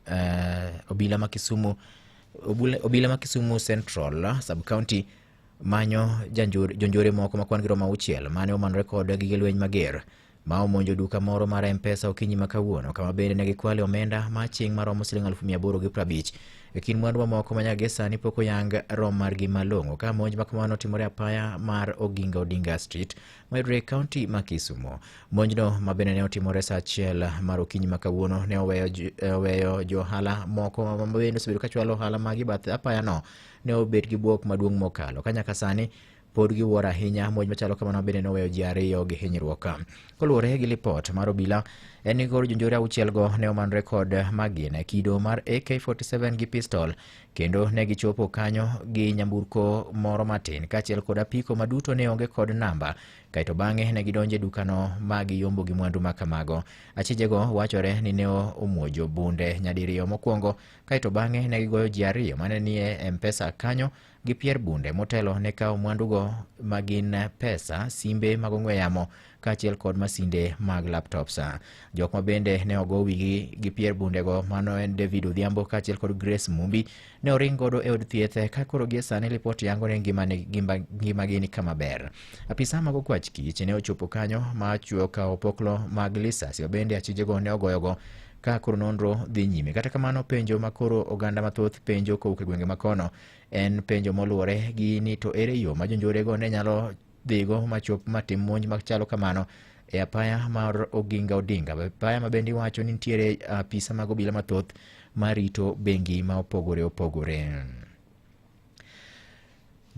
Uh, obila ma Kisumu obila ma Kisumu Central sub county manyo jonjore moko ma kwan gi romo auchiel mane omanore kod gige lweny mager ma omonjo duka moro mar mpesa okinyi ma kawuono kama bende ne gikwale omenda ma chieng' maromo siling alufu mia aboro gi prabich e kind mwandu mamoko ma nyaka sani pok oyang rom margi malong'o ka monj ma kamano timore apaya mar oginga odinga street mayudore e kaunti ma Kisumo. Monjno ma bende ne otimore sa achiel mar okinyi ma kawuono ne oweyo ju- eh, oweyo jo ohala moko ma bende osebedo ka chwalo ohala magi bath apayano ne obet gi bwok maduong' mokalo ka nyaka sani pod giwuoro ahinya monj machalo kamano bende noweyo ji ariyo gi hinyruok koluwore gi lipot mar obila en ni koro jonjore auchielgo ne omanore kod magina kido mar ak47 gi pistol Kendo ne gichopo kanyo gi nyamburko moro matin kaachiel kod apiko ma duto ne onge kod namba. Kaeto bang'e ne gidonjo e dukano ma giyombo gi mwandu ma kamago. Achijego wachore ni ne omuojo bunde nyadiriyo mokwongo, kaeto bang'e ne gigoyo ji ariyo mane nie M-Pesa kanyo gi pier bunde motelo ne kawo mwandugo ma gin pesa, simbe mag ong'we yamo, kaachiel kod masinde mag laptops. Jok ma bende ne ogo wigi gi pier bundego mano en David Odhiambo kaachiel kod Grace Mumbi ne oring godo e od thieth ka koro gie sani lipot yango ni ngimane- ngima- ngimagi ni kama ber. Apisa mag okwach kich ne ochopo kanyo ma chwo ka opoklo mag lisasi ma bende achijego ne ogoyogo ka koro nonro dhi nyime kata kamano penjo ma koro oganda mathoth penjo kowuok e gwenge makono en penjo moluwore gi ni to ere yo ma jonjorego ne nyalo dhigo machop matim monj machalo kamano e apaya mar Oginga Odinga, apaya ma bende iwacho ni nitiere apisa mag obila mathoth marito bengi ma opogore opogore.